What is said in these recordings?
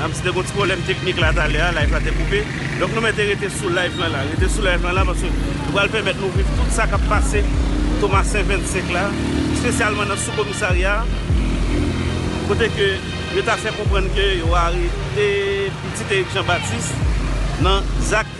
Mèm si te gon ti pwoblèm teknik la talè a, live la te koupe. Donk nou mèt rete sou live lan la. Rete sou live lan la paske nou pral pèmèt nou viv tout sa k ap pase Tomasen 25 la. Espesyalman nan sou komisarya a. Kote ke yo ta fè konprann ke yo arete pitit Erik Janbatis nan zak.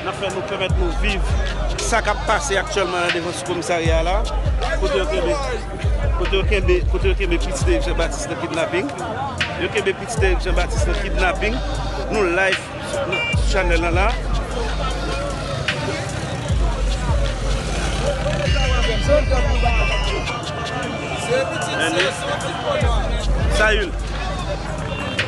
N ap fè nou pèmèt nou viv sa k ap pase aktyèlman nan devan sou komisarya a la, kote yo kenbe, kote yo kenbe, kote yo kenbe pitit Erik Jan Batis nan kidnaping. Yo kenbe pitit Erik Jan Batis nan kidnaping. Nou live sou chanèl lan la. Sa youn.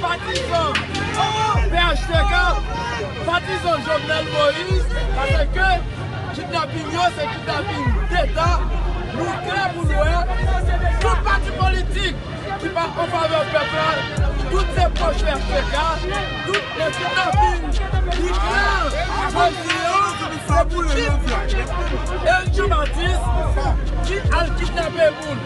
Patizan phtk patizan Jovenel Moïse paske kidnaping yo se kidnaping deta nou klè pou nou wè tout pati politik ki pa anfavè pèp la tout se pòch phtk tout se kidnaping li klè bandi yo se pou kidnaping Eric Jean Baptiste ki al kidnape moun.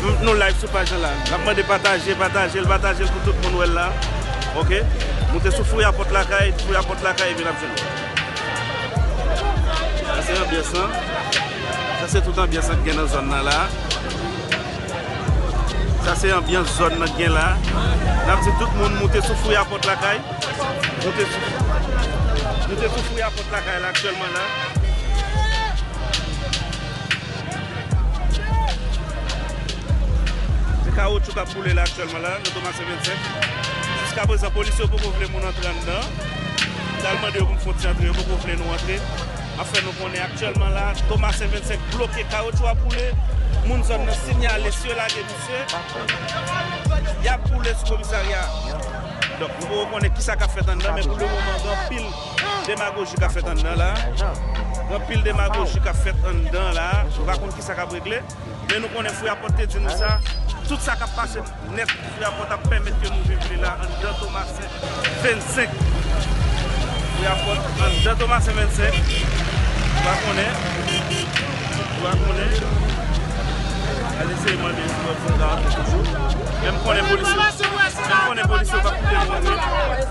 Mnm nou live sou paj lan la. Nap mande pataje, patajel, patajel pou tout moun wèl la. Ok. Moute sou fouya pòt lakay, fouya pòt lakay epi nap jwenn li. Sa se anbyans lan. Sa se tout anbyans lan ki gen nan zòn nan la. Sa se anbyans zòn nan gen la. Nap di tout moun moute sou fouya pòt lakay. Moute sou Moute sou fouya pòt lakay la aktyèlman la. Se kawotchou k ap boule la aktyèlman la nan Thomassin 25. Jiska prezan polisye yo poko vle moun antre anndan an. M t al mande yo pou m fon ti antre yo poko vle nou antre. M ap fè nou konnen aktyèlman la Thomassin 25 bloke kawotchou ap boule. Moun zòn nan sinyale si yo lage misye y ap boule sou komisarya a. Donk nou poko konnen kisa k ap fèt anndan men pou le moman gen anpil. Demagoji kap fèt anndan la, gen anpil demagoji kap fèt anndan la, nou pa konn kisa kap regle, men nou konnen Freaport te di nou sa, tout sa kap pase nèt Freaport ap pèmèt ke nou viv li la anndan Tomasen 25, Freaport anndan Tomasen 25, nou pa konnen, nou pa konnen, al eseye mande yo si yo ap jwenn Garde yo toujou, men m konnen polisye yo, men m konnen polisye yo pap kite nou antre.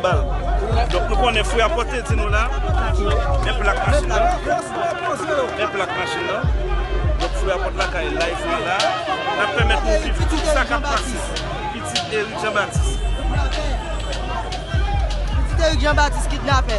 Bal. Donk nou konnen fwi a pote di nou la. Men plak machin nan. Men plak machin nan. Donk fwi a pote lakay la. Fwi la. Nap pèmèt nou viv tout sa kap pase. Pitit Eric Jean Baptiste. Pitit Eric Jean Baptiste kidnapè.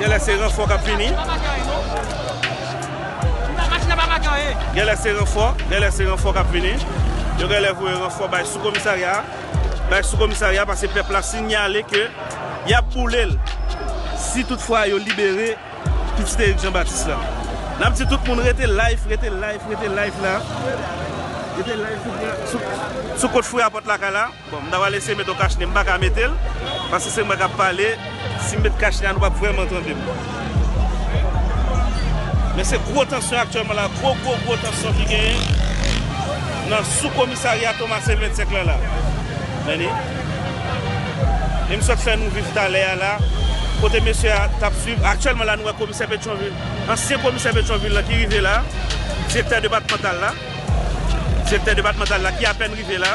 Genlè se ranfò kap vini. Genlè se ranfò, genlè se ranfò kap vini. Yo genlè voye ranfò bay sou komisarya a. Bay sou komisarya a pase pèp la sinyale ke yap boule l. Si tout fwa yo libere pitit Erik Jean Baptiste la. Nap di tout moun rete live, rete live, rete live la. Rete live sou kont fouyapòt lakay la. Bon m ta pral eseye met yon kachnen m paka metel paske se mwen kap pale sim met kachnen a nou pap vrèman tandem men se gwo tansyon aktyèlman la gwo gwo gwo tansyon ki genyen nan sou komisarya Thomasin 25 lan la meni e m sot fè nou viv talè a la kote mesye a tap swiv aktyèlman la nou wè komisè Petyonvil ansyen komisè Petyonvil lan ki rive la direktè depatmantal la direktè depatmantal la ki apèn rive la.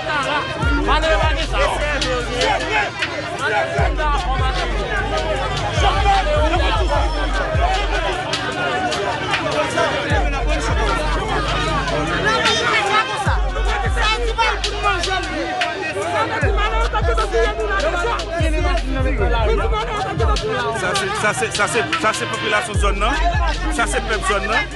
Sa se popilasyon zòn nan, sa se pèp zòn nan.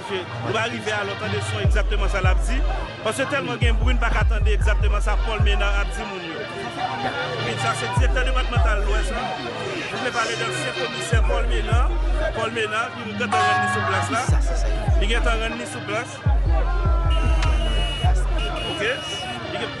Paske nou pa rive a lò tande son egzakteman sa lap di. Paske tèlman gen bri n pa ka tande egzakteman sa Paul Ménard ap di moun yo. Min sa se direktè depatmantal lwès la. Nou vle pale de ansyen komisè Paul Ménard. Paul Ménard ki gentan rann li sou plas la. Li gentan rann li sou plas. Ok.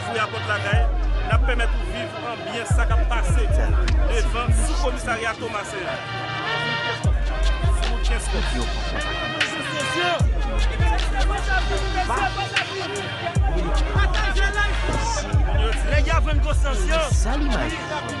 Fouye a pòt lakay, n ap pèmèt ou viv an byen sa k ap pase devan sou komisarya Tomasen an. Fouye Kenskòf. Fouye Kenskòf. Fouye Kenskòf.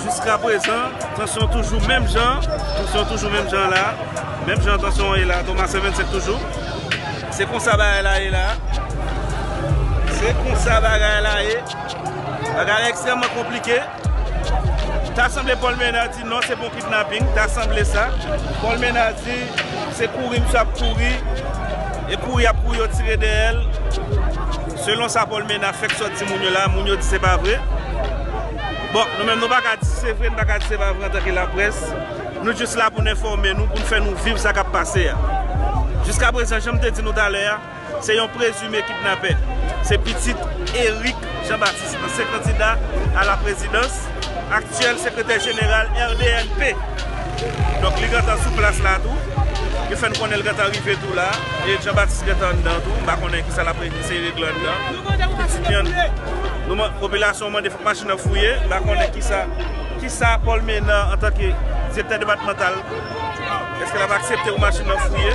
Jiska prezan, tansyon toujou menm jan, tansyon toujou menm jan la, menm jan tansyon an ye la, Thomas 125 toujou. Se konsa bagay la ye la. Se konsa bagay la ye. Bagay la ekstrèmman konplike. Ta sanble Paul Ménard di non se pa yon kidnapping, ta sanble sa. Paul Ménard di se kouri misye ap kouri, e kouri yap kouri yo tire dèyè l. Selon sa Paul Ménard fèk sot di moun yo la, moun yo di se pa vre. Bon, nou menm nou pa ka di si se vre, nou pa ka di se pa vre antanke laprès. Nou jis la pou n enfòme nou, pou n fè nou viv sa k ap pase a. Jiskaprezan, jan m te di nou talè a, se yon prezime kidnapè. Se pitit Eric Jean Baptiste, ansyen kandida a la prezidans, aktyèl sekretè jeneral RDNP. Donk li gentan sou plas la tou. Yo fè n konnen l gentan rive tou la. Eric Jean Baptiste gentan anndan tou. M pa konnen ki sa l ap eseye regle anndan. Popilasyon mande fòk machin nan fouye, la konnen kisa, kisa Paul Ménard antanke direktè depatmantal, èske l ap aksepte pou machin nan fouye.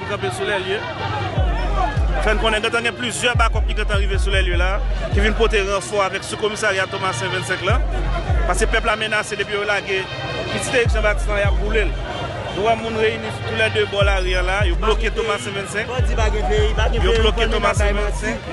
Nou kanpe sou lèlye, fè n konnen gentan gen plizyè bakòp ki gentan rive sou lèlye la, ki vin pote ranfò avèk sou komisarya Tomasen 25 lan, paske pèp la menase depi yo lage pitit Erik Jan Batis la y ap boule l. Nou wè moun reyini sou tou lè 2 bò lari an la, yo bloke Tomasen 25, yo bloke Tomasen 25.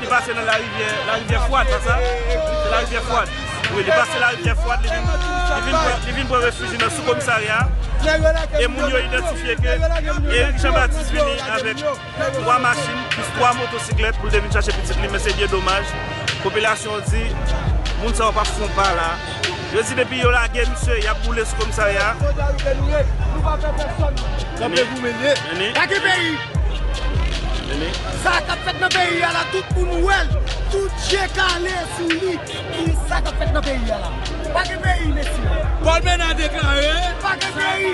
Li pase nan larivyè larivyè fwad pa sa? Se larivyè fwad. Wi li pase larivyè fwad li vin li vin pran refiji nan sou komisarya a e moun yo idantifye ke Erik Jean Baptiste vini avèk 3 machin plis 3 motosiklèt pou l te vin chache pitit li men se byen domaj popilasyon an di moun sa yo pa fon pa la. Yo di depi yo lage misye yap boule sou komisarya a. Fo Jayou ke nou ye, nou pa pè pèsòn. Kanpe pou mwen ye. Lage peyi. Sa a kap fèt nan peyi a la tout moun wè l, tout je kale sou li. Ki sa kap fèt nan peyi a la? Pa gen peyi mesye. Paul Menard deklare. Pa gen peyi.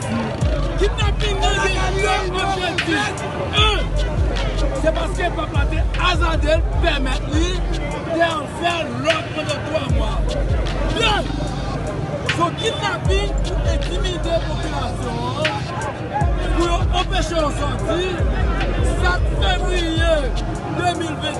Kidnaping nan gen 2 objektif, 1 Se paske pèp la te azade l, pèmèt li, te al fè lòt pandan 3 mwa. 2 Se yon kidnaping pou entimide popilasyon an, pou yo anpeche yo sòti, sa t fevriye 2021.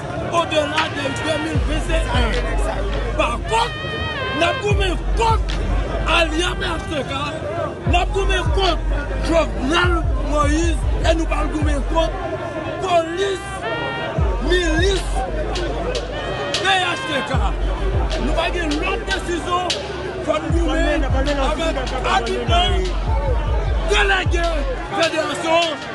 odela de 2021. Pa kont, n ap goumen kont alya phtk, n ap goumen kont Jovenel Moise e nou pral goumen kont polis milis phtk. Nou pa gen lòt desizyon fò n goumen avèk agiman delege federasyon.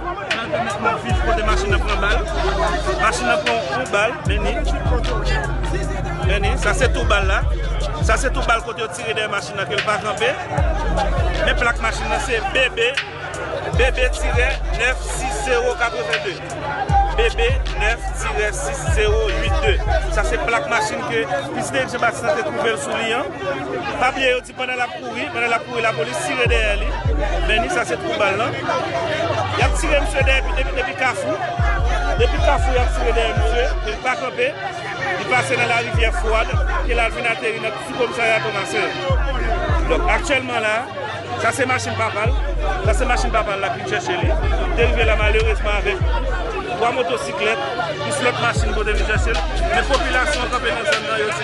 Nan tan mèt map viv kote machin nan pran bal machin nan pran yon bal meni meni sa se tou bal la sa se tou bal kote yo tire dèyè machin nan kel pa kanpe men plak machin nan se BB BB tirè 9 6 0 82 BB 9 tirè 6 0 8 2 sa se plak machin ke prezidan Jean Baptiste nan te twouvel sou li an pa bliye yo Pandan l ap kouri, pandan l ap kouri lapolis tire dèyè li, men ni sa se twou bal lan. Y ap tire misye dèyè depi Kafou, depi Kafou y ap tire dèyè misye, e li pa kanpe, li pase nan larivyè Fwad, ke l al vin ateri nan sou komisarya Tomasen. Donk aktyèlman la, sa se machin papa l, sa se machin papa l l ap vin chèche li, li te rive la malerezman avèk 3 motosiklèt, plis lòt machin pou te vin chèche l, men popilasyon kanpe nan zòn nan yo di.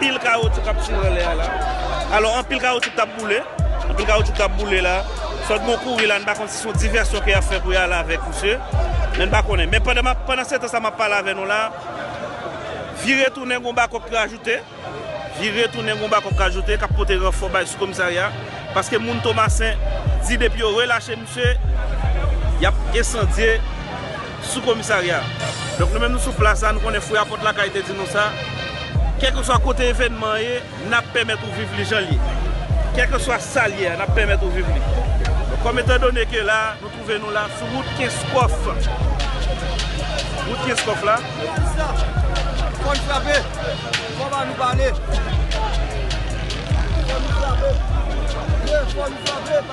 Pil kawotyou kap tire anlè a la. Alò anpil kawotyou kap boule. Anpil kawotyou kap boule la. Sòt bon kouri la, n pa konn si son divèsyon ke yap fè pou y al avèk misye. Men n pa konnen. Men pandan map, pandan setan sa map pale avè nou la, vire tounen gon bakòp ki ajoute. Vire tounen gon bakòp ki ajoute kap pote ranfò bay sou komisarya. Paske moun Tomasen di depi yo relache. Mesye, y ap ensandye sou komisarya a. Donk nou menm nou sou plas la, nou konnen fouyapòt lakay te di nou sa, kèlkeswa kote evènman an ye, n ap pèmèt ou viv li jan l ye. Kèlkeswa sa l ye a, n ap pèmèt ou viv li. Donk kòm etandone ke la a, nou twouve nou la sou wout Kenskòf, wout Kenskòf la. Polisya, fò n frape, fò ba nou pale. Fò nou frape, ye, fò nou frape.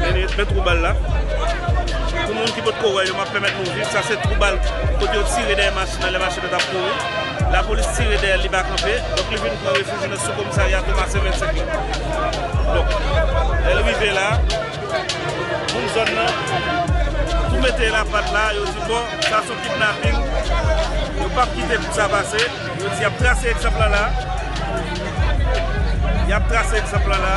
Meni fen twou bal la. Pou moun ki potko wè yo map pèmèt nou viv sa se twou bal kote yo tire dèyè machin nan lè machin nan tap kouri. Lapolis tire dèyèl li pa kanpe. Donk li vin pran refiji nan sou komisarya Tomasen 25 lan. Donk lèl rive la moun zòn nan tou mete lapat la yo di bon sa son kidnaping yo pap kite pou sa pase. Yo di yap trase egzanp lan la. Yap trase egzanp lan la.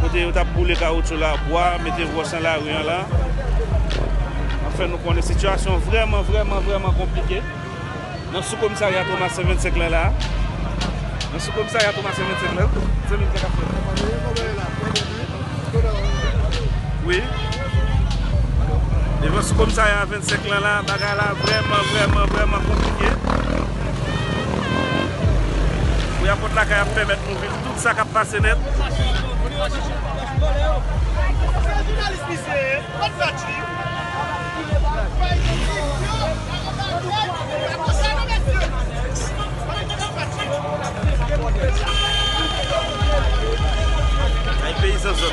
kote yo tap boule kawoutchou la, bwa, mete wòch nan lari an la. Ap fè nou konnen sitiyasyon vrèman, vrèman, vrèman konplike nan sou komisarya Thomas Saint Vincent lan la. Nan sou komisarya Thomas Saint Vincent lan. Zanmi m sa kap fèt la? Wi. Devan sou komisarya 25 lan la, bagay la vrèman, vrèman, vrèman konplike. Fouya pòt lakay ap pèmèt nou viv. Tout sa kap pase net. Ay peyizan zòt.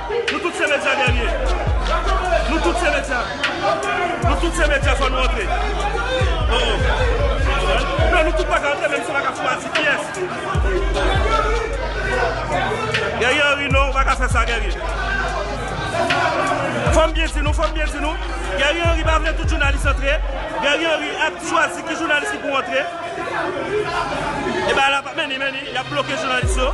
Nou tout se medya dènye Nou tout se medya Nou tout se medya fò nou antre Oh oh Non nou tout pa ka antre menm si nou pa ka fwa di kiyès Guerrier Henry non ou pa ka fè sa Guerrier Fò m byen di nou fò m byen di nou Guerrier Henry pa vle tout jounalis antre Guerrier Henry ap chwazi ki jounalis ki pou antre E bagay la pa men ni men ni y ap bloke jounalis yo.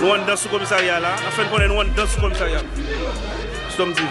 Nou anndan sou komisarya a la, nap fè n konnen nou anndan sou komisarya a. Stom TV.